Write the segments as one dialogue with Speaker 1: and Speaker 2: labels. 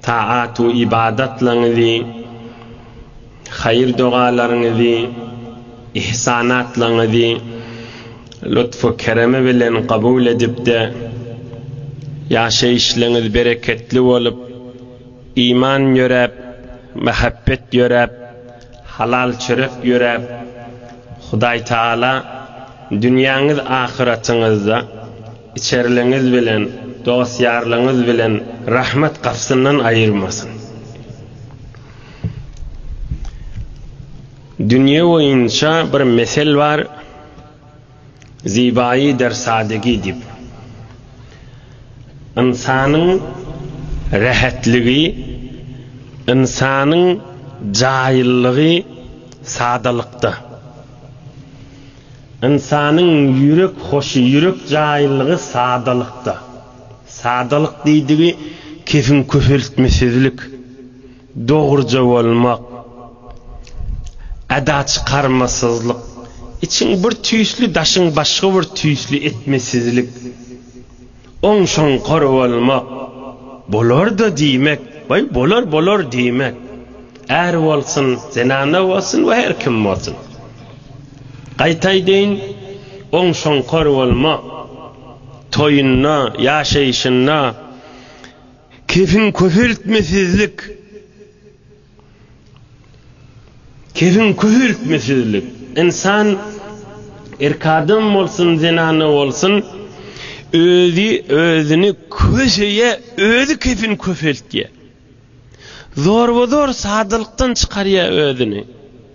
Speaker 1: Taat we ybadatlaryňyzy, haýyr-dogalaryňyzy, ihsanatlaryňyzy lutfu-keremi bilen kabul edip-de, ýaşaýyşlaryňyz bereketli bolup, iman ýöräp, mähebbet ýöräp, halal çörek ýöräp, Hudaý Tagala dünýäňiz-ahyratyňyzda, Içerligiňiz bilen, dost-ýarlaryňyz bilen rahmet gapysyndan aýyrmasyn. Dünýe boýunça bir mesel bar, Zibaýy der sadigi diýip. Ynsanyň rähetligi, ynsanyň jaýyllygy sadalykda. Ynsanyň ýürek hoşy, ýürek jaýylygy sadalykda. Sadalyk diýdigi kesin köpeltmesizlik, dogruja bolmak, eda çykarmasyzlyk, içiň bir tüýsli, daşyň başga bir tüýsli etmesizlik. Onsoň kor bolmak bolar-da diýmek, goý, bolar, bolar diýmek. Är bolsun, zenana bolsun we her kim bolsun. Gaýta aýdaýyn, onsoň kor bolmak, toýunda, ýaşaýşynda kefin-köpeltmesizlik. Kefiň köhürtmesizlik, ynsan erk adam bolsun, zenana bolsun, özi özüni köşeýe özi kefin köpeltýä. Zorba-zor sadalykdan çykarýa özüni.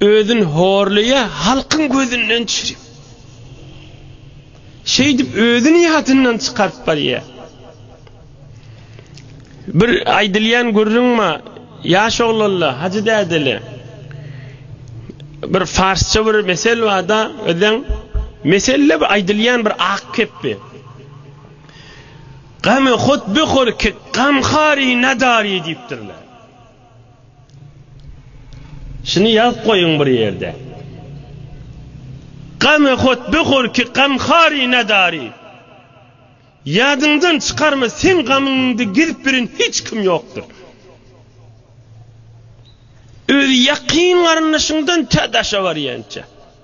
Speaker 1: Özün horlaýa halkyň gözünden çirip. Şeýdip özün ýadyndan çykaryp barýa. Bir aýdylýan gürrüň ma, ýaş oglanla, hajy dädeli. Bir farsça bir mesel barda, özden meselle bir aýdylýan bir ak kepbi. Gamy hut bi hor ki, gam hari nadari diýipdirler. Şuny ýazyp goýuň bir ýerde. Gamy hut bu horki gamhari nadari. Ýadyňdan çykarma seň gamyňyňdy gezip birin hiç kim ýokdur. Öz ýakyn garyndaşyňdan tä daşa barýança.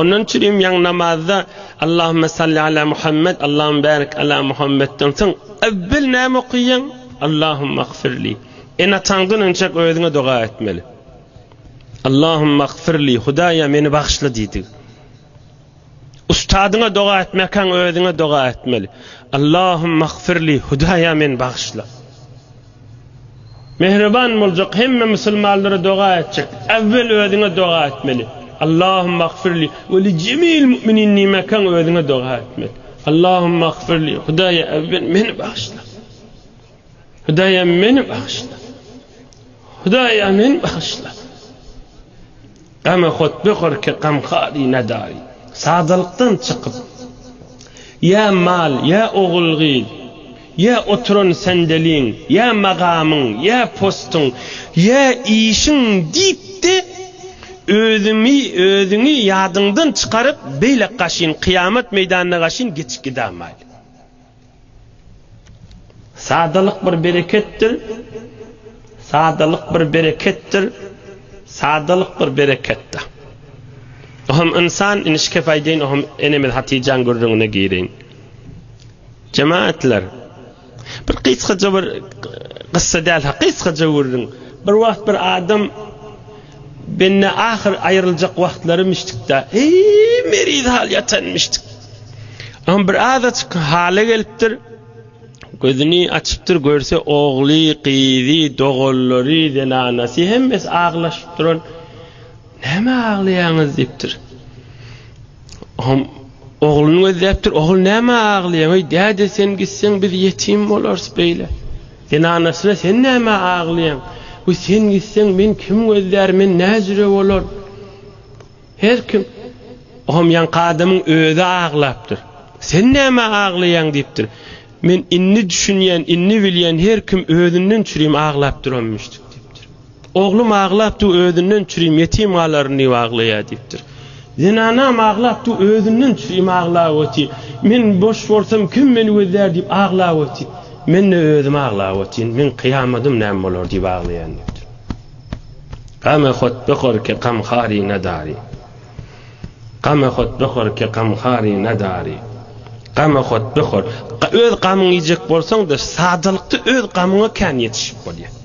Speaker 1: Ondan çirim ýaň namazda Allahümme salli ala Muhammed, Allahümme bärik ala Muhammedden soň evvel näme okuýaň? Allahümme agfirli. En ataňdan önçek özüňe doga etmeli. Allahümme agfirli, Hudaýa meni bagyşla diýdi. Ustadyňa doga etmekän özüňe doga etmeli. Allahümme agfirli, Hudaýa meni bagyşla. Mähriban boljak, hemme musulmanlara doga etjek. Äwwel özüňe doga etmeli. Allahumma agfirli we li jemil mu'minin diýmekkäň özüňe doga etmeli. Allahumma agfirli, Hudaýa äwwel meni bagyşla. Hudaýa meni bagyşla. Hudaýa meni bagyşla. Gama hutbe horki gamhari nadari. Sadalykdan çykyp, ýa mal, ýa ogul-gyz, ýa oturan sendeliň, ýa magamyň, ýa postuň, ýa işiň diýip-de, özüňi, özüňi ýadyňdan çykaryp, beýle gaşyn, kyýamat meýdanyna gaşyn geçip gidämaýly. Sadalyk bir bereketdir, Sadalyk bir bereketdir, Sadalyk bir bereketdir. Ohum ynsan ini şikep aýdaýyn ohum enemiz Hatijaň gürrüňine gireýin. Jemaatlar bir gysgaja bir gyssa däl ha gysgaja gürrüň. Bir wagt bir adam Bende ahyr aýryljak wagtlary müşdikda. Eý, meriz hal ýatan müşdik. Am bir azaçyk hala gelipdir. Gözüni açypdyr, görse ogly, gyzy, doganlary, zenanasy hemmesi aglaşyp duran. Näme aglaýaňyz diýipdir. Am ogluny gözläpdir. Ogul näme aglaýaň? Eý, däde sen gitseň biz ýetim bolarys beýle. Sen anasyna sen nämä aglaýaň? Bu sen gitseň men kim gözlär, men näjüre bolar? Her kim, Oňam ýaňky adamyň özi aglapdyr. Sen nämä aglaýaň diýipdir. Men indi düşünýän, indi bilýän, her kim özünden çürim aglap duranmyşdyk diýipdir. Oglum aglap du özünden çürim ýetim galaryn diýip aglaýa diýipdir. Zenanam aglap du özünden çürim aglap oty. Men boş bolsam kim meni gözlär diýip aglap oty. Mende özüm aglap otyn. Meň kyýamadym näme bolar diýip aglaýan diýipdir. Game hot behor ke gam hari nadari. Game hot behor ke gam hari nadari. Game hot behor. Öz gamyňy iýjek bolsaň-da, sadalykda öz gamyňa kän ýetişip bolýar.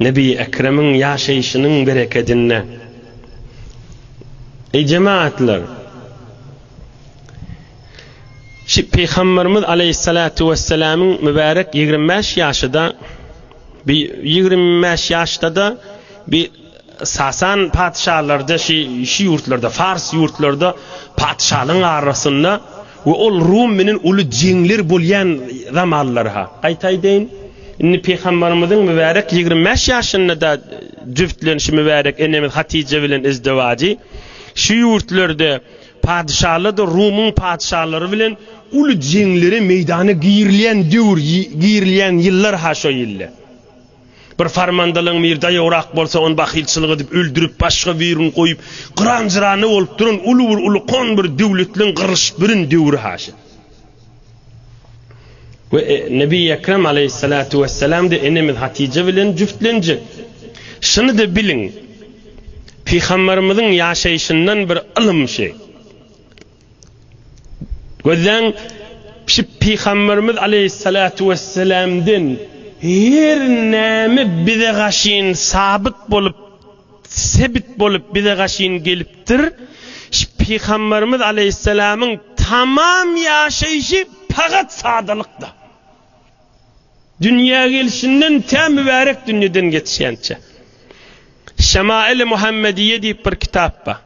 Speaker 1: Nebi Ekremiň ýaşaýşynyň berekedine. Eý jemagatlar! Şi Pygamberimiz aleýhissalatu wessalamyň mübärek ýigrimi bäş ýaşyda bi ýigrimi bäş ýaşdada bi Sasan patyşalarda şi şi ýurtlarda Fars ýurtlarda patyşalygyň arasynda We ol Rum menen uly jeňler bolýan zamanlary-ha. Gaýta aýdaýyn, indi Pygamberimiziň mübärek ýigrimi bäş ýaşynda-da jübtlenişi mübärek enemiz Hatije bilen izdewajy şu ýurtlarda padyşalardyr Rumuň padyşalary bilen uly jeňlere meýdana girilýän döwür, girilýän ýyllar-ha şo ýyllar. Bir farmandalyň bir daýograk bolsa, ony bahylçylyk edip öldürip, başga birini goýup, gyran-jyrany bolup duran uly bir ulukan bir döwletliň gyrylyşyp birin döwri haşa. We Nebi Ekrem aleýhissalatu wessalam-da enemiz Hatyja bilen jübtlenjek. Şuny-da biliň, Pygamberimiziň ýaşaýşyndan bir ylym şeý. Gözleň, şu pygamberimiz aleýhissalatu wesselamdan her näme bize gaşyn sabyt bolup, sebit bolup bize gaşyn gelipdir. Şu pygamberimiz aleýhissalamyň tamam ýaşaýşy pagat sadalykda. Dünýä gelşinden tä mübärek dünýeden geçýänçä. Şemaili Muhammediýe diýip bir kitap bar.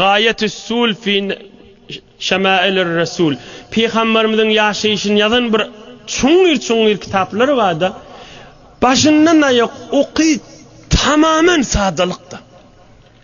Speaker 1: Gaýatüs-sul fi şemailirresul. Pygamberimiziň ýaşaýşyny ýazan bir çuňňur-çuňňur kitaplar bar-da, başyndan aýak oky tamamen sadalykda.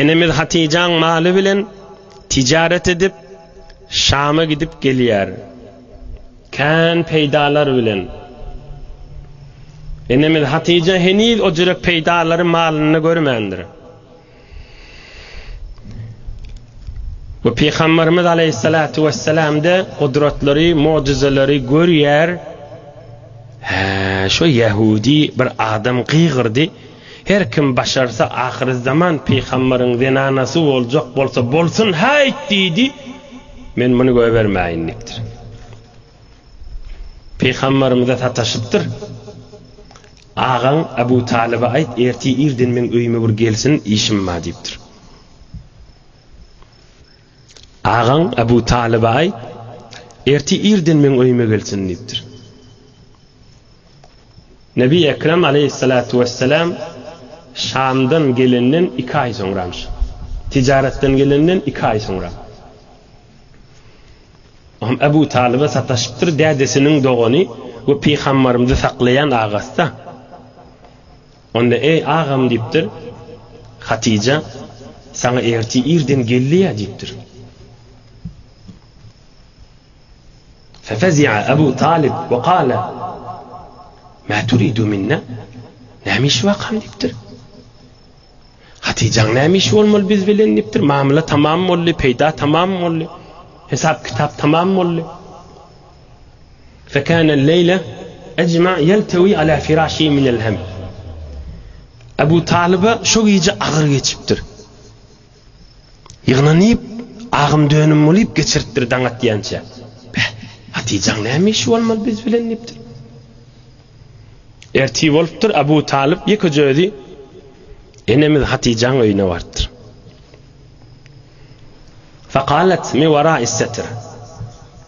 Speaker 1: Enemiz Hatyjaň maly bilen tijaret edip, Şama gidip gelýär. Kän peýdalar bilen. Enemiz Hatyja heniz o jürek peýdalary malynda görmändir. Bu Pygamberimiz Aleyhissalatu vesselamda gudratlary, mucizeleri görýär. Hä, şo Yahudi bir adam gygyrdy. Her kim başarsa ahyrezzaman pygambaryň zenanasy boljak bolsa bolsun haýt diýdi, men muny goýbermäýin diýipdir. Pygambarymyza sataşypdyr, Agaň Abu Talyba aýt, ertir irden meň öýüme bir gelsin, işim bar diýipdir. Agaň Abu Talyba aýt, ertir irden meň öýüme gelsin diýipdir. Nebi Ekrem aleýhissalatu wessalam Şamdan gelenden iki aý soňramyş. Tijaratdan gelenden iki aý soňra. Oňam Abu Talyba sataşypdyr, dädesiniň dogany we pygambarymyzy saklaýan agasy-da. Onda, Eý, agam, diýipdir. Hatyja, Saňa ertir irden gelli-ä, diýipdir. Fefezi'a Abu Talyp we kâle, Mâ turidu minnâ, Näme işi wakam, diýipdir. Hatyjaň näme işi bolmaly biz bilen, diýipdir. Mamla tamam boldy, peýda tamam boldy, hesap-kitap tamam boldy. Fekâne leýle ecma yeltewi alâ firâşihi minel hem. Ebu Talyba şo gije agyr geçipdir. Ýygnanyp, agym-dönüm bolup geçiripdir daň atýança. Beh, Hatyjaň näme işi bolmaly biz bilen diýipdir. Ertir bolupdyr, Ebu Talyp ýekeje özi enemiz Hatyjaň öýüne barypdyr. Fekâlet mi werâ is-setr.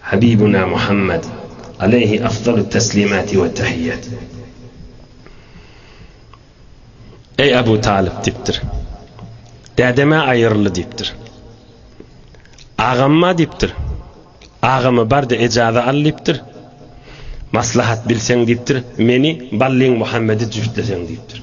Speaker 1: Habibuna Muhammad, aleýhi afzalut teslimati we tahiýat. Eý Abu Talyp diýipdir. Dädem-ä aýyryldy diýipdir. Agam-a diýipdir. Agama bar-da ejaza al diýipdir. Maslahat bilseň diýipdir, meni, Ballyň Muhammedi jübtleseň diýipdir.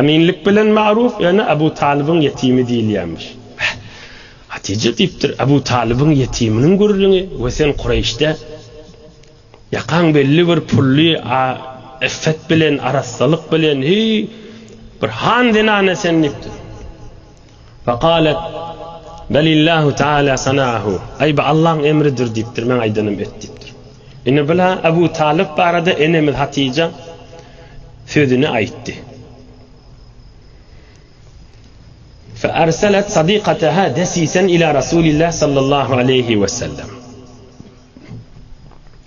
Speaker 1: Eminlik bilen Magruh ýöne Abu Talybyň ýetimi diýilýärmiş. Beh! Hatyja diýipdir, Abu Talybyň ýetiminiň gürrüňi we sen Kureýşde ýakaň belli bir pully a yffet bilen, arassalyk bilen, heý, bir han zenany sen diýipdir. Fakalet Belillahu Teala Sanahu Aý bu Allaň emridir diýipdir, men aýdanym et diýipdir. Indi bula Abu Talyp barada enemiz Hatyja sözüni aýtdy. Fe arsalet sadikataha desisen ila Rasulillah sallallahu aleýhi we sellem.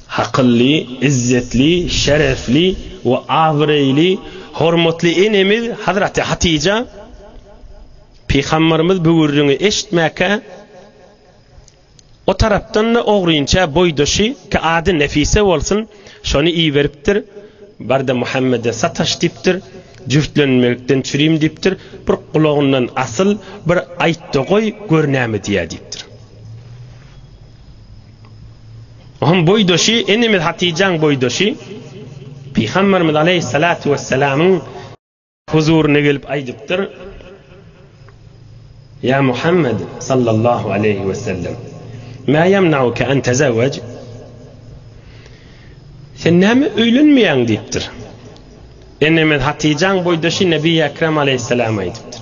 Speaker 1: Hakylly, izzetli, şerefli we abyreýli hormatly enemiz Hazraty Hatyja Pygambarymyz bu gürrüňi eşitmäkä o tarapdan-da ogrynça boýdaşy ki ady Nefise bolsun, şony iberipdir, Bar-da Muhammede sataş diýipdir, jübtlenmekden çürim diýipdir, bir gulagyndan asyl, bir aýt-da goý, gör näme diýýär diýipdir. Onuň boýdaşy, enemiz Hatyjaň boýdaşy Pygamberimiz aleýhissalatu wessalamyň huzuryna gelip aýdypdyr, Ýa Muhammed sallallahu aleýhi wesellem, Mä ýemnauke an tezewwej? Sen näme öýlenmeýäň diýipdir. Enemiz Hatyjaň boýdaşy Nebi Ekrem aleýhissalama aýdypdyr.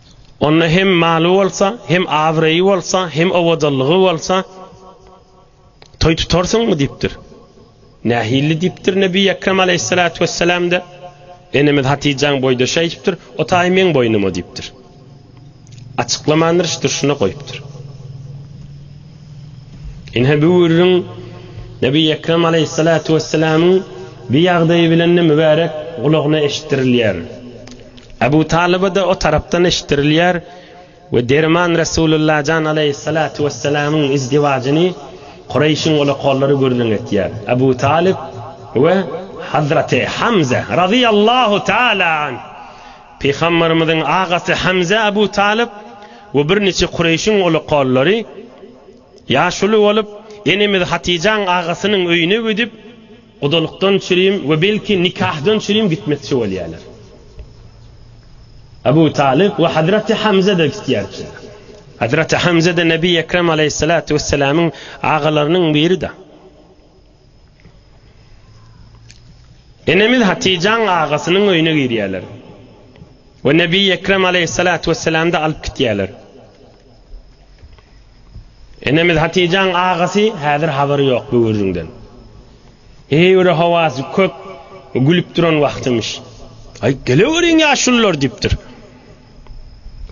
Speaker 1: Onda hem maly bolsa, hem abraýy bolsa, hem owadanlygy bolsa, toý tutarsyňmy? diýipdir. Nähilli diýipdir Nebi Ekrem aleýhissalatu wessalam-da, Enemiz Hatyjaň boýdaşy aýdypdyr, O taý meň boýnuma diýipdir. Açyklamandyr, iş durşuna goýupdyr. Ine bu gürrüň Nebi Ekrem aleýhissalatu wessalamyň bu ýagdaýy bilen-de mübärek gulagyna eşitdirilýär. Abu Talyba da o tarapdan eşitdirilýär we derman Resulullah jan aleýhissalatu wessalamyň izdiwajyny Kureýşiň olakollary gürrüň etýär. Abu Talyb we Hazraty Hamza razyýallahu taala anh, Pygamberimiziň agasy Hamza Abu Talyb we birniçe Kureýşiň olakollary ýaşuly bolup, enemiz Hatyjaň agasynyň öýüne gidip, Gudalykdan çürim we belki nikahdan çürim gitmekçi bolýarlar. Abu Talyp we Hazraty Hamza-da gitýärdiler. Hazraty Hamza-da Nebi Ekrem alaýhyssalatu wessalamyň agalarynyň biri-da. Enemiz Hatyjaň agasynyň öýüne girýärler we Nebi Ekrem alaýhyssalatu wessalamda alyp gitýärler. Enemiz Hatijaň agasy häzir habary ýok bu gürrüňden. Heýwire howasy kök gülüp duran wagtymyş. Aý, geleweriň ýaşulular diýipdir.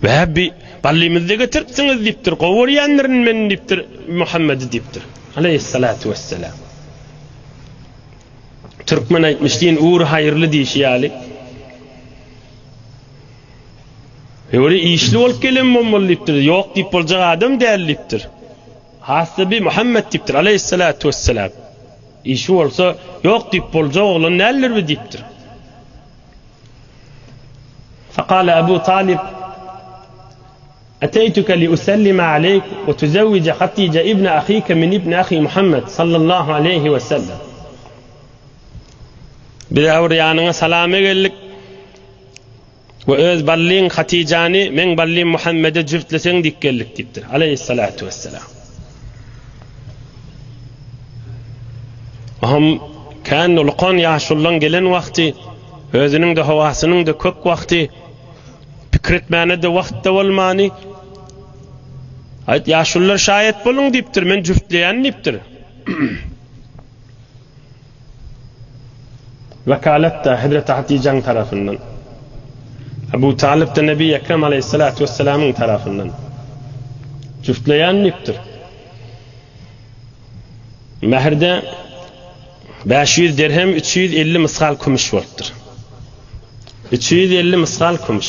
Speaker 1: Bäbi, Ballymyzy-da getiripsiňiz diýipdir. Gowy görýändirin men diýipdir, Muhammedi diýipdir. Aleýhissalatu wessalam. Türkmen aýtmyş, Din ury haýyrly diýşi ýaly. Öli işli bolup gelen bolmaly diýipdir. Ýok diýip boljak adam däl diýipdir. Hassa bi Muhammet diýipdir, aleýhissalatu wessalam. Işi bolsa, ýok diýip boljak oglan däldir bi diýipdir. Fakala Abu Talyp, Ateýtuke li usellime aleýk we tuzewwije Hatije ibne ahike min ibni ahi Muhammet, sallallahu aleýhi wessellem. Biz agr ýanyňa salama geldik. we öz ballyň Hatyjany meň ballym Muhammede jübtleseň diýip geldik diýipdir. Aleýhissalatu wessalam. Ohm kän ulkan ýaşullaň gelen wagty, özüniň de howasynyň da kök wagty, pikir etmäne de wagt da bolmany, Aýt ýaşullar şaýat boluň diýipdir, men jübtleýän diýipdir. Wekalet-de hezreti Hatyjaň tarapyndan, Ebu Talyp-da Nebi Ekrem aleýhissalatu wessalamyň tarapyndan jüftleýän diýipdir. Mährde bäş ýüz dirhem üç ýüz elli mysgal kümüş bolupdyr. Üç ýüz elli mysgal kümüş.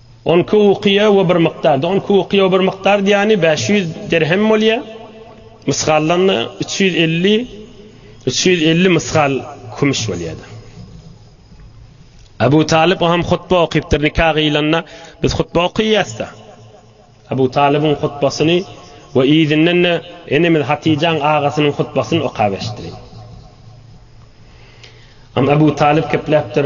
Speaker 1: On iki ukyýa we bir mykdar. On iki ukyýa we bir mykdar diýýäni bäş ýüz dirhem bolýar. Mysgallanda üç ýüz elli, üç ýüz elli mysgal kümüş bolýardy. Abu Talyp o hem hutba okypdyr nika gyýlanda, biz hutba okyýas-da. Abu Talybyň hutbasyny we yzyndan-da enemiz Hatyjaň agasynyň hutbasyny okap eşitdirin. Abu Talyp gepläpdir.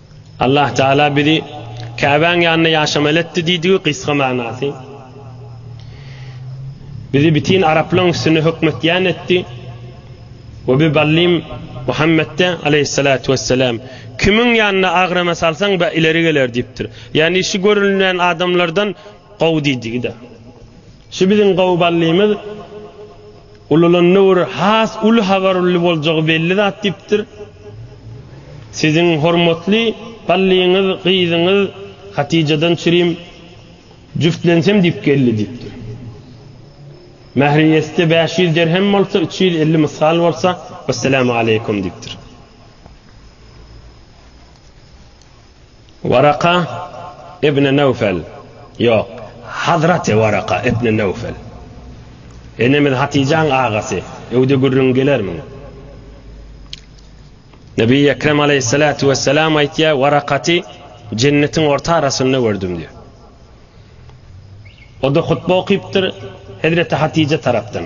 Speaker 1: Allah Taala bizi Käbäň ýanynda ýaşamaly etdi diýdigi gysga manasy. Bizi bitin araplaryň üstünde hökmetýän etdi. We bi ballym Muhammetde aleýhissalatu wessalam, Kimiň ýanynda agrama salsaň be ileri geler diýipdir. Ýagny şu görülýän adamlardan gowy diýdigi-de. Şu biziň gowy ballymyz. Ulalanda bir has uly habar uly boljagy belli zat diýipdir. Siziň hormatly Ballyňyz gyzyňyz Hatijadan çirim jüftlensem diýip geldi diýipdir. Mähri ýetse bäş ýüz derhem bolsa, üç ýüz elli mysgal bolsa, wessalam aleýkum diýipdir. Waraka ibn Nawfel, ýok, Hazraty Waraka ibn Nawfel. Enemiz Hatyjaň agasy, öýde gürrüň gelermiň? Nebi Ekrem aleýhissalatu wessalam aýtýar, Warakaty jennetiň orta arasynda gördüm diýýär. O-da hutba okypdyr, Hezreti Hatyja tarapdan.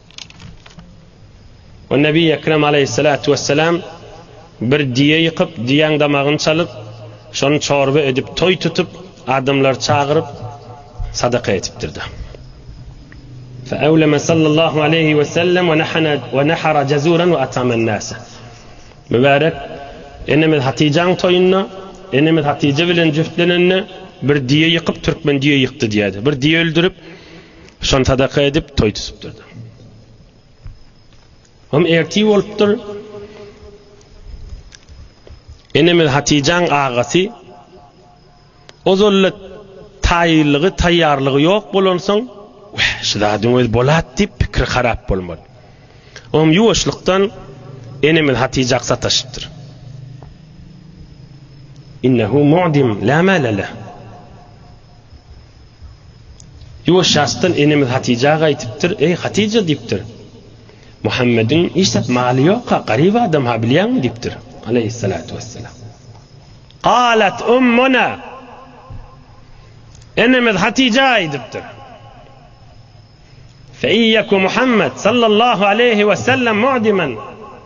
Speaker 1: O Nebi Ekrem Aleyhissalatu Vesselam bir diýe ýykyp, diýäň damagyny çalyp, şony çorba edip, toý tutup, adamlary çagyryp, sadaka etipdirda. Fe evleme sallallahu aleyhi ve sellem ve nahana ve nahara cezuran ve atamen nase. Mübarek enemiz Hatijaň toýunda, enemiz Hatije bilen jüftlenende bir diýe ýykyp, türkmen diýe ýykdy diýädi. Bir diýe öldürip, Şony sadaka edip toý tüsüpdir. Hem erti bolupdyr. Enemiz Hatijaň agasy ozalla taýýarlygy, taýýarlygy ýok bolansoň, "Wah, şu zadyň öz bolat" diýip pikri harap bolmaly. Oňam ýuwaşlykdan enemiz Hatijak sataşypdyr. Innehu mu'dim la malala. Ýuwaş ýasdan enemiz Hatyja gaýtypdyr. Eý, Hatyja, diýipdir. Muhammediň hiç zat maly ýok-a, garyp adam-ha, bilýäňmi? diýipdir. Aleýhissalatu wessalam. Galat ummuna, Enemiz Hatyja aýdypdyr. Fe in ýeku Muhammed sallallahu aleýhi wessellem mu'diman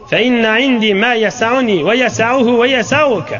Speaker 1: fe inne indi ma ýesa'uni we ýesa'uhu we ýesa'uke.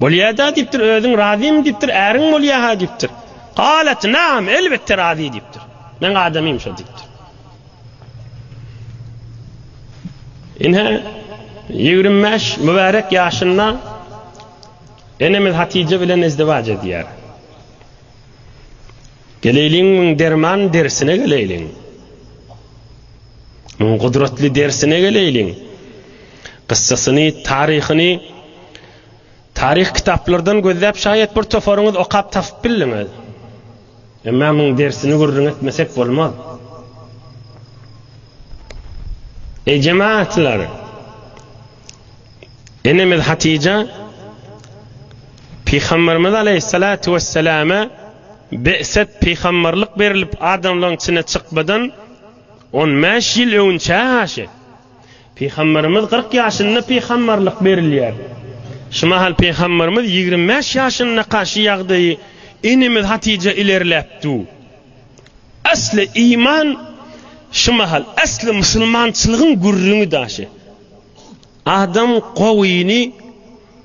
Speaker 1: Bolýada diýipdir, özüň razymy diýipdir, äriň bolýaha diýipdir. Galat, naam, elbetde razy diýipdir. Meň adamym şo diýipdir. Ine, ýigrimi bäş mübärek ýaşynda enemiz Hatije bilen izdiwaç edýär. Geleýliň müň derman dersine geleýliň. Müň gudratly dersine geleýliň. Gyssasyny, taryhyny taryh kitaplardan gözläp şaýat bir toparyňyz okap tapyp bildiňiz. Emma müň dersini gürrüň etmesek bolmaz. Eý jemaatlar! Enemiz Hatija Pygamberimiz Aleyhissalatu vesselame be'set pygamberlik berilip adamlaryň içine çykmadan on bäş ýyl öwünçä garşy Pygamberimiz kyrk ýaşynda pygamberlik berilýär. Şu mahal Pygamberimiz ýigrimi bäş ýaşyndaka şu ýagdaýy enemiz Hatija ilerläp du. Asly iman şu mahal asly musulmançylygyň gürrüňi daşy. Adam gowyny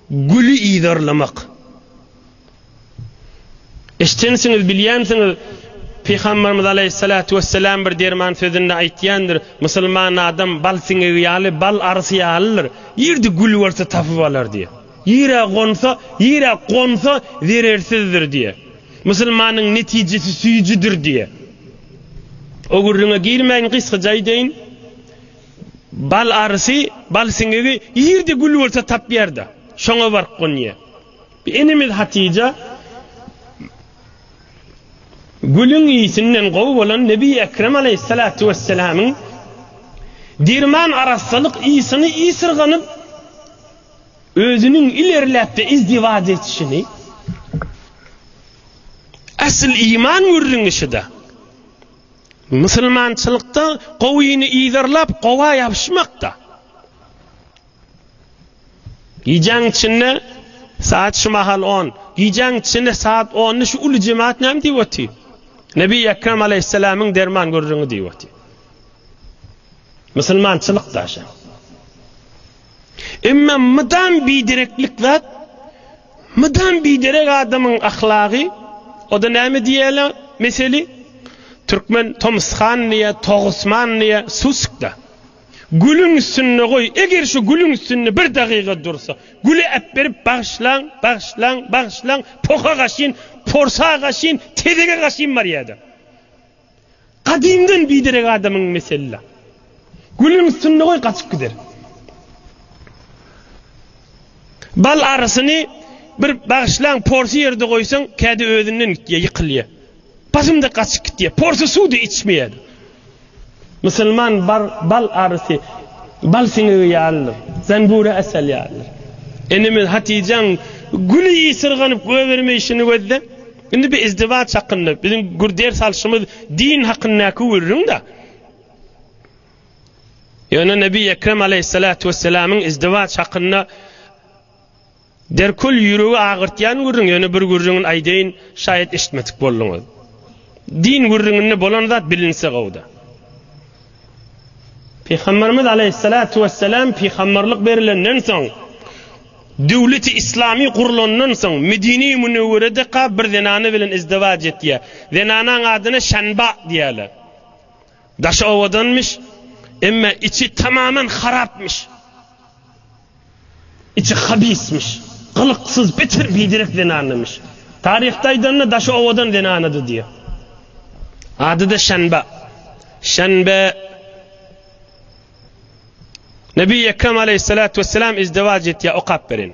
Speaker 1: güli yzarlamak. Eşdensiňiz bilýänsiňiz Pygamberimiz Aleýhissalatu Wesselam bir derman sözünde aýtýandyr, Musulman adam bal siňegi ýaly, bal arysy ýalydyr. Ýerde gül bolsa tapyp alar diýýär. Ýere gonsa, ýere gonsa zerersizdir diýýär. Musulmanyň netijesi süýjüdir diýýär. O gürrüňe girmäýin gysgaca aýdaýyn. Bal arysy, bal siňegi ýerde gül bolsa tapýar-da, şoňa baryp gonýar. Bir enemiz Hatyja gülüň ýitinden gowy bolan Nebi Ekrem aleýhissalatu wesselamyň derman arassalyk ýysyny ýysyrganyp, özüniň ilerläp-de izdiwaç etişini, asyl iman gürrüňi şyda. Musulmançylykda gowyny yzarlap, gowa ýapyşmak-da. Gijäň içinde, saat şu mahal on, gijäň içinde saat onda şu uly jemaat näme diýip otyr? Nebi Ekrem aleýhissalamyň derman gürrüňi diýip otyr. Musulmançylyk-da şa. Emma mydam bidereklik zat, mydam biderek adamyň ahlagy, o-da näme diýýäler meseli, türkmen tomuskan diýýär, togusman diýýär, sussukda. Gülüň üstünde goý, eger şu gülüň üstünde bir dagyga dursa, güli äpberip bagyşlaň, bagyşlaň, bagyşlaň, poha gaşyn, porsa gaşyn, tezege gaşyn barýardyr. Gadymdan biderek adamyň mesela. Gülüň üstünde goý gaçyp gider. Bal arysyny bir bagyşlaň porsy ýerde goýsaň kädi özünden gitýär ýykylýa. Basymda gaçyp gitýär. Porsy suwdy içmeýädi. Musulman bar bal arysy bal siňegi ýalydyr. Zanbura asal ýalydyr. Enemiz Hatyjaň güli ýysyrganyp göbermeýşini gözle. Indi bi izdiwaç hakynda biziň gür ders alşymyz din hakyndaky gürrüň-da. Ýöne Nebi Ekrem aleýhissalatu wessalamyň izdiwaç hakynda derkul ýüregi agyrtýan gürrüň, ýöne bir gürrüňini aýdaýyn, şaýat eşitmedik bolduňyz. Din gürrüňinde bolan zat bilinse gowy-da. Pygamberimiz Aleyhissalatu vesselam pygamberlik berilenden soň, döwleti islamy gurlandan soň Medine-i Münewweredeka bir zenana bilen izdiwac etýär. Zenanaň adyna Şanba diýýärler. Daşy owadanmyş, emma içi tamaman harapmyş. Içi habismiş. Gylyksyz, bitir, biderek zenanymyş. Taryhda aýdanda daşy owadan zenanady diýýär. Ady-da Şenba. Şenbe. Nebi Ekrem aleýhissalatu wessalam izdiwaç etýär, okap beren.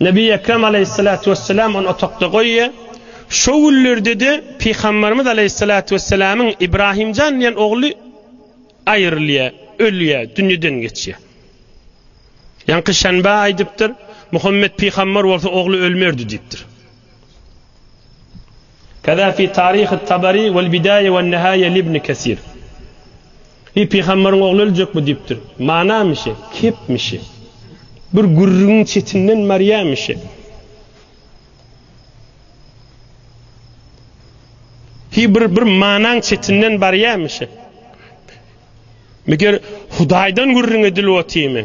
Speaker 1: Nebi Ekrem aleýhissalatu wesselam ony otagda goýýar. Şo günlerde-de Pygamberimiz aleýhissalatu wesselamyň Ibrahimjan diýen ogly aýrylýar, ölýär, dünýeden geçýär. Ýaňky şenbe aýdypdyr, Muhammet pygamber bolsa ogly ölmerdi diýipdir. Kaza fi Taryh Tabari wal Bidaýe wal Nihaýe li Ibn Kesir. Heý pygamberiň ogly öljekmi diýipdir. Manamişi, kepmişi. Bir gürrüňiň çetinden barýamişi. Heý bir bir manaň çetinden barýamişi. Meger Hudaýdan gürrüň edilip otymy?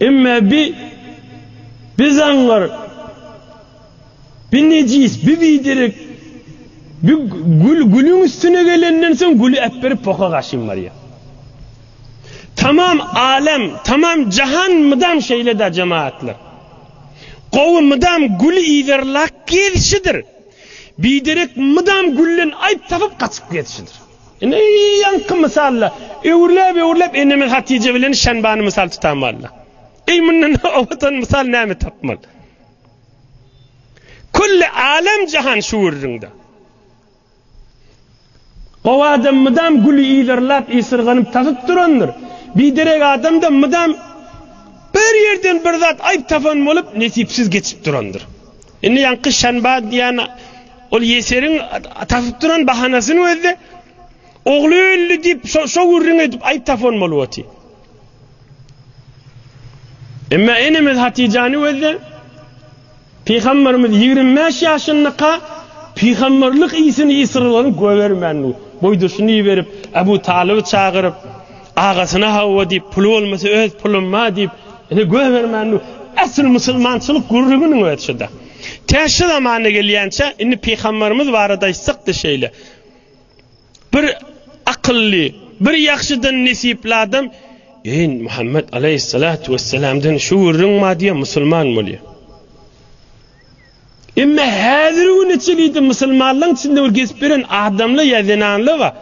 Speaker 1: Emma bi, bi zaňňar, bi nejis, bi biderek, bi gül gülüň üstüne gelenden soň güli äpberip poka gaşyn barýar. Tamam alem, tamam jahan mydam şeýle-dä jemagatlar. Gowy mydam güli yzarlap gezişidir. Biderek mydam gülden aýyp tapyp gaçyp gezişidir. Ine, ýaňky mysalda, öwürläp-öwürläp enemin Hatije bilen Şanbany mysal tutan walla. Eý, mundan owadan mysal näme tapmaly? Külli älem-jahan şu gürrüňde. Gowy adam mydam güli ýylyrlap, ýysyrganyp tasyp durandyr. Biderek adam-da mydam bir ýerden bir zat aýyp tapan bolup, nesipsiz geçip durandyr. Indi ýaňky Şanba diýen Ol Ýeseriň tapyp duran bahanasyny özde ogly öldi diýip şo gürrüň edip aýyp tapon bolup otyr. Emma enemiz Hatijany özde Pygamberimiz 25 ýaşyndyka pygamberlik isini isrylgyny göbermän, boýduşyny iberip, Abu Talyby çagyryp, Agasyna hawa diýip, puly bolmasa öz pulumma diýip, ine göz bermän dur. Esl musulmançylyk gürrüginiň özi şu-da. Tä şu zamana gelýänçä, indi pygamberimiz barada aýtsak-da şeýle. Bir akylly, bir ýagşydan nesipli adam, Eý, Muhammet aleýhissalatu wessalamdan şu gürrüň bar diýýär, musulman bolýar. Emma häzirgi güne çenli-de musulmanlaryň içinde bir gezip ýören adamlar ýa zenanlar bar.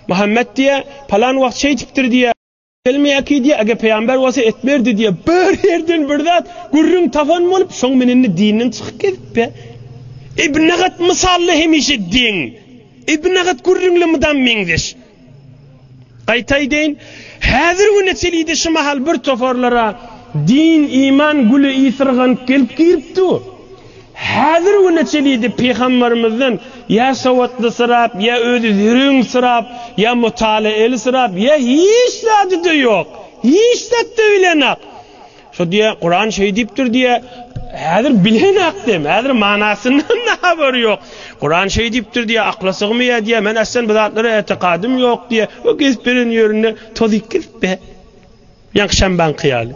Speaker 1: Muhammet diýýär, palan wagt şeý diýipdir diýýär. Gelmeýärki diýýär, eger pygamber bolsa etmerdi diýýär. Bir ýerden bir zat gürrüň tapan bolup, şoň bilen-de dinden çykyp gezipdir. Ibn Agat mysally hemişe deň. Ibn Agat gürrüňle mydam meňzeş. Gaýta aýdaýyn, häzir güne çelide şu mahal bir toparlara din, iman güli ysyrganyp gelip giripdi. Häzir güne çelide pygambarymyzdan ýa sowatlysyrap, ýa özi zerüňsyrap, ýa mutalaelysyrap, ýa hiç zady-da ýok, hiç zat-da bilenok. Şo diýýär, Kuran şeý diýipdir diýýär. Häzir bilenakda hem, häzir manasyndan-da habary ýok. Kuran şeý diýipdir diýýär, akla sygmaýar diýýär. Men aslan bu zatlara etikadym ýok diýýär. O gezip ýören ýerinde tozyp gezip be. Ýaňky şambaňky ýaly.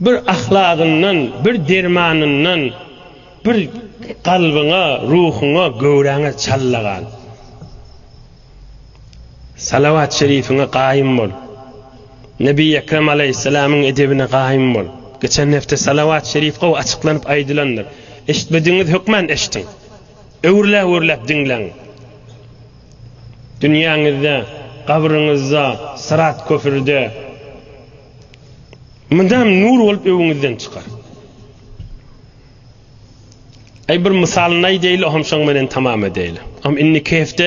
Speaker 1: Bir ahlagyndan, bir dermanyndan, bir kalbyňa, ruhuňa, göwräňe çalla gal. Salawat şerifiňe gaýym bol. Nebi Ekrem Aleýhisselamyň edebine gaýym bol. Geçen hepde salawat şerif gowy açyklanyp aýdylandyr. Eşitmedigiňiz hökman eşitiň. Öwrüläp-öwrüläp diňläň. Dünýäňizde, gabryňyzda, syrat köprüde, Mydam nur bolup öwüňizden çykar. Ay bir mysalyny aýdaýyl, oňam şoň menen tamam edeýil. Am indi kehfde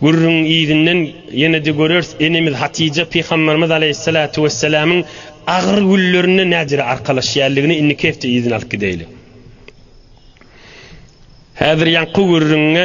Speaker 1: gürrüň yzynden ýene-de göreris, enemiz Hatija pygamberimiz aleýhissalatu wessalamyň agyr günlerinde nädire arkalaşýarlygini indi kehfde yzyny alyp gideýil. Häzir ýaňky gürrüňe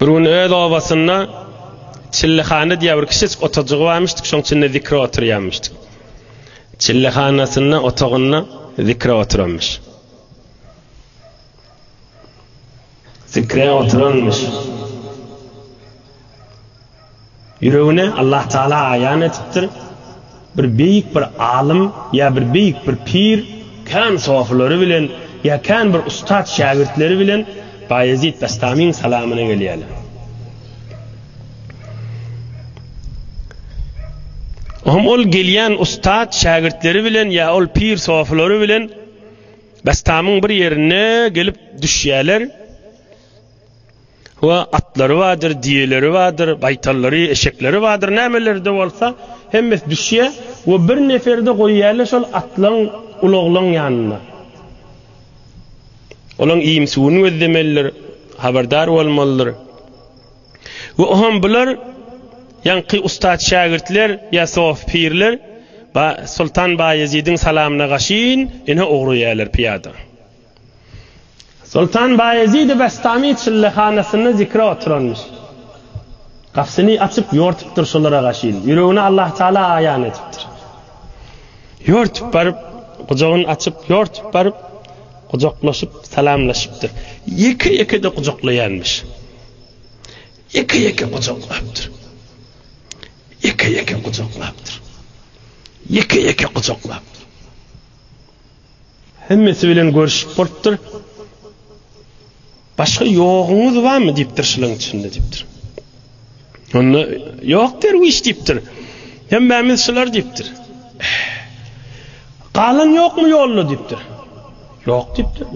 Speaker 1: Bir gün öz obasynda Çillehana diýen bir kiçijik otagcygy barmyşdyk, şoň içinde zikre oturýarmyşdyk. Çillehanasynda otagynda zikre oturanmyş. Zikre oturanmyş. Ýüregine Allah Taala aýan etipdir, bir beýik bir alym ýa bir beýik bir pir kän sofylary bilen ýa kän bir ussat şägirtleri bilen Baýezit Bestamyň salamyna gelýärler. Ohm ol gelýän ussat şägirtleri bilen ýa ol pir sofylary bilen Bestamyň bir ýerine gelip düşýärler. Ho, atlary bardyr, diýeleri bardyr, gaýtallary, eşekleri bardyr, nämeleri-de bolsa, hemmesi düşýär we bir neferi-de goýýarlar şol atlaň, ulaglaň ýanynda. Olaň iýim-suwuny gözlemelidir, habardar bolmalydyr. We oňam bular, ýaňky ussat-şägirtler ýa sof pirler, ba, soltan Baýezidiň salamyna gaşyn, ine ugraýarlar pyýada. Soltan Baýezidi Bestami çyllehanasyna zikre oturanmyş. Gapysyny açyp, ýortupdyr şolara gaşyn. Ýüregini Allahtagala aýan edipdir. Ýortup baryp, gujagyny açyp, ýortup baryp, gujaklaşyp, salamlaşypdyr. Ýeke-ýeke-de gujaklaýanmyş. Ýeke-ýeke gujaklapdyr. Ýeke-ýeke gujaklapdyr. Ýeke-ýeke gujaklapdyr. Hemmesi bilen görüşip bolupdyr. Başga ýoguňyz barmy diýipdir şylyň içinde diýipdir. Onda ýok derwiş diýipdir. Hemmämiz şylar diýipdir. Galan ýokmy ýolda diýipdir. Ýok diýipdir.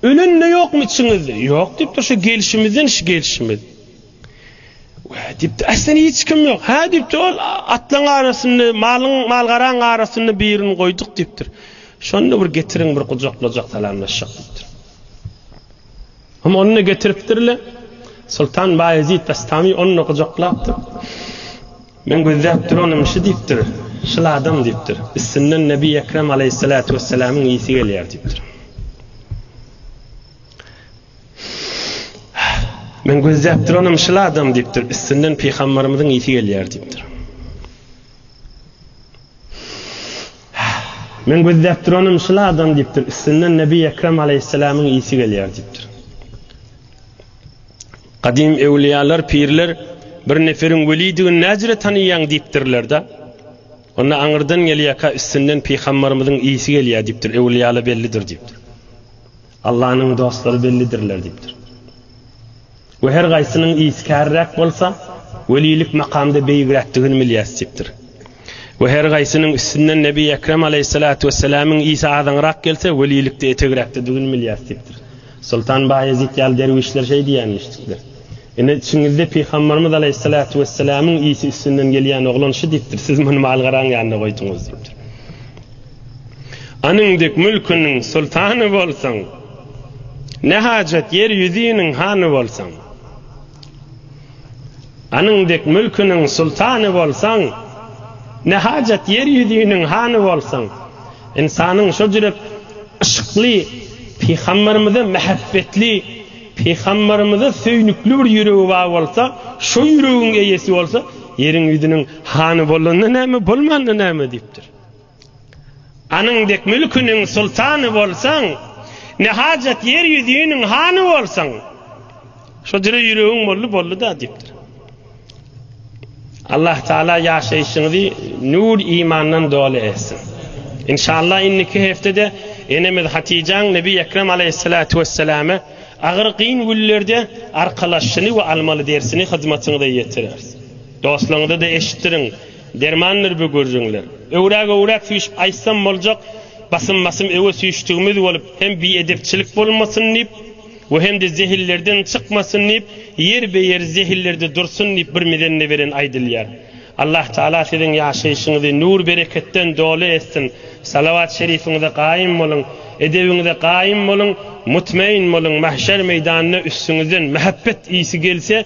Speaker 1: Ölen-de ýokmy içiňizde? Ýok diýipdir. Şu gelşimizden şu gelşimiz. Wä diýipdi, Aslynda hiç kim ýok. Hä diýipdi, Ol atlaryň arasynda, malyň, mal-garaň arasynda birini goýduk diýipdir. Şonda bir getiriň, bir gujaklajak, salamlaşjak diýipdir. Hum, ony-da getiripdirler. Soltan Baýezit Bestami ony-da gujaklapdyr. Men gözläp duranym şu diýipdir, şul adam diýipdir. Üstünden Nebi Ekrem aleýhissalatu wessalamyň ysy gelýär diýipdir. Men gözläp duranym şyl adam diýipdir. Üstünden pygambarymyzyň ýiti gelýär diýipdir. Men gözläp duranym şyl adam diýipdir. Üstünden Nebi Ekrem aleyhisselamyň ýiti gelýär diýipdir. Gadim ewliýalar, pirler bir neferiň welidigini näjire tanaýaň diýipdirler-de. Onda aňyrdan gelýärkä üstünden pygambarymyzyň ýiti gelýär diýipdir. Ewliýala bellidir diýipdir. Allanyň dostlary bellidirler diýipdir. We her gaýsynyň ýesi käriräk bolsa, welilik makamda beýigräkdigini bilýäs diýipdir. We her gaýsynyň üstünden Nebi Ekrem aleýhissalatu wessalamyň ýesi azaňrak gelse, welilikde etegräkdedigini bilýäs diýipdir. Soltan Baýezit ýaly derwüşler şeý diýýän eşitipdir. Ine, içiňizde Pygamberimiz aleýhissalatu wessalamyň ýesi üstünden gelýän oglan şu diýipdir, siz muny malgaraň ýanyna goýduňyz diýipdir. Onuň dek mülküniň sultany bolsaň, ne hajat ýer ýüzüniň hany bolsaň? Onuň dek mülküniň sultany bolsaň, ne hajat ýer ýüzüniň hany bolsaň? Ynsanyň şo jürek yşkly pygamberimize mähäbbetli, pygamberimize söýnükli bir ýüregi bar bolsa, şo ýüregiň eýesi bolsa, ýeriň ýüzüniň hany bolanda näme, bolmanda näme diýipdir. Anyň dek mülküniň sultany bolsaň, Ne hajat ýer ýüzüniň hany bolsaň. Şo dire ýüregiň boldy, boldy-da diýipdir. Allah Taala ýaşaýşyňyzy nur imandan doly etsin. Inşallah indiki heftede enemiz Hatijaň Nebi Ekrem Aleýhissalatu Wesselame agyr kyn günlerde arkalaşyny we almaly dersini hyzmatyňyza ýetireris. Dostlaryňyza-da eşitdiriň, dermandyr bu gürrüňler. Öwräk-öwräk süýşüp aýtsam boljak, basym-basym öwe süýşdügimiz bolup, hem biedepçilik bolmasyn diýip we hem-de zehillerden çykmasyn diýip, ýerbe-ýer zehillerde dursun diýip bir mizende beren aýdylýar. Allah Taala siziň ýaşaýşyňyzy nur-bereketden doly etsin. Salawat-şerifiňize gaýym boluň, edebiňize gaýym boluň, mutmain boluň, mahşer meýdanyna üstüňizden mähebbet ysy gelse,